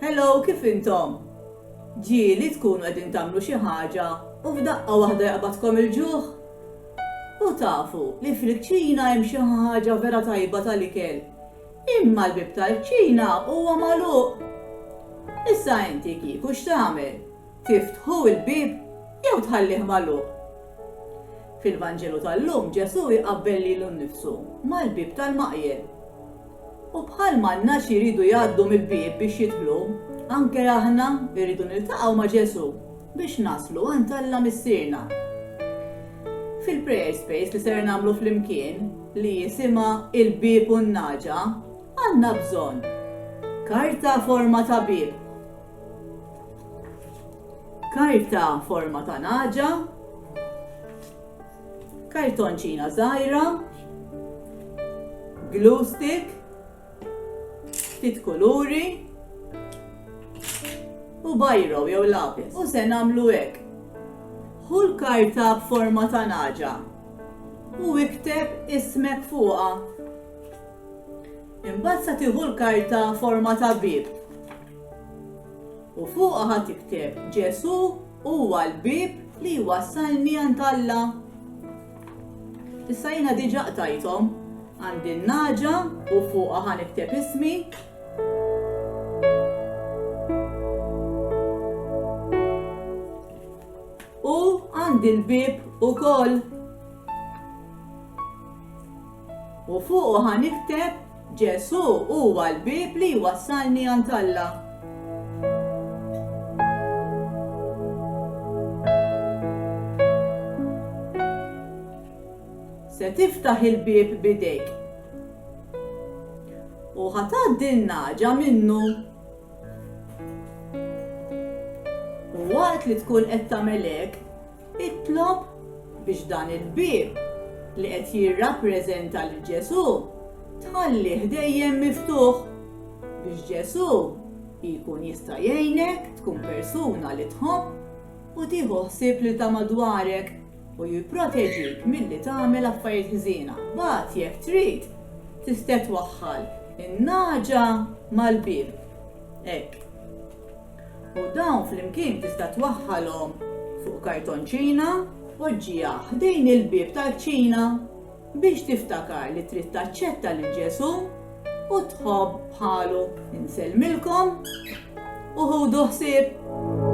Hello, kif intom? Ġieli tkunu qegħdin tagħmlu xi ħaġa u f'daqqa waħda jaqbadkom il-ġuħ? U tafu li fil-kċina hemm xi ħaġa vera tajba tal-ikel. Imma l-bib tal-kċina huwa magħluq. Issa inti kieku x'tagħmel? Tiftħu l-bieb jew tħallih magħluq? Fil-Vanġelu tal-lum Ġesù jqabbel lilu nnifsu mal-bieb tal-maqjel. U bħalma n-nagħaġ jridu jgħaddu mill-bieb biex jidħlu, anke aħna rridu niltaqgħu ma' Ġesù biex naslu għand Alla Missierna. Fil-prayer space li ser nagħmlu flimkien, li jisimha Il-Bieb u n-Nagħġa, għandna bżonn karta forma ta' bieb, Karta forma ta' naġa. Kartonċina żgħira. Glue stick. Ftit kuluri. U bajro jew lapis. U se nagħmlu hekk. Hu l-karta b'forma ta' naġa u ikteb ismek fuqha. Imbagħad se tieħu l-karta forma ta' bib U fuqha ħa tikteb, Ġesù huwa l-bieb li jwassalni għand Alla. Issa jiena diġà qtajthom għandi n-naġa u fuqha ħa nikteb ismi għand il-bib u koll. U fuq ħanikteb Ġesù huwa l-bieb li jwassalni għand Alla. se tiftaħ il-bieb bidejk. U ħatad il-naġa minnu. U waqt li tkun qed tagħmel hekk, Itlob biex dan il-bieb, li qed jirrappreżenta lil Ġesù, tħallih dejjem miftuħ, biex Ġesù jkun jista' jgħinek tkun persuna li tħobb u tieħu ħsieb lil ta' madwarek u jipproteġik milli tagħmel affarijiet ħżiena. Mbagħad jekk trid, tista' twaħħal in-nagħġa mal-bieb. Hekk. U dawn flimkien tista' twaħħalhom fuq kartonċina. Poġġiha ħdejn il-bieb tal-kċina biex tiftakar li trid taċċetta lil Ġesù u tħobb bħalu. Insellmilkom u ħudu ħsieb!